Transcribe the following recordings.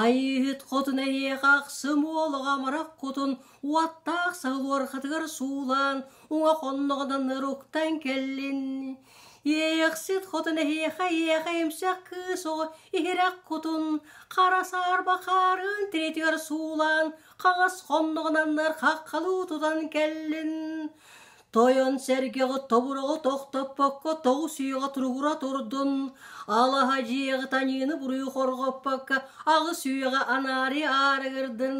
Айыыһыт хотун эһиэхэ ахсым уолуга амарах кутун уоттаах саһыл уорхатыгар суулаан уҥа хонноҕунан ыруктан кэллин. Иэйэхсит хотун эһиэхэ ийэҕэ эмсэх кыыс оҕо иһирэх кутун хара саарба хаарын тириитигэр суулаан хаҕас хонноҕунан хаххалыы тутан кэллин. Тойон-сэргэҕэ тобуруга тохтоппокко тоҕус үйэҕэ туругура турдун, алаһа дьиэҕэ таниыны буруйу хорҕоппокко аҕыс үйэҕэ анаары аарыгырдын,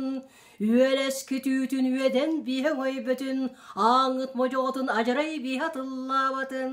үөлэскит үүтүн үөдэн биһэ өйбөтүн, ааҥҥыт модьоҕотун адьарай биһэ тыллаабатын.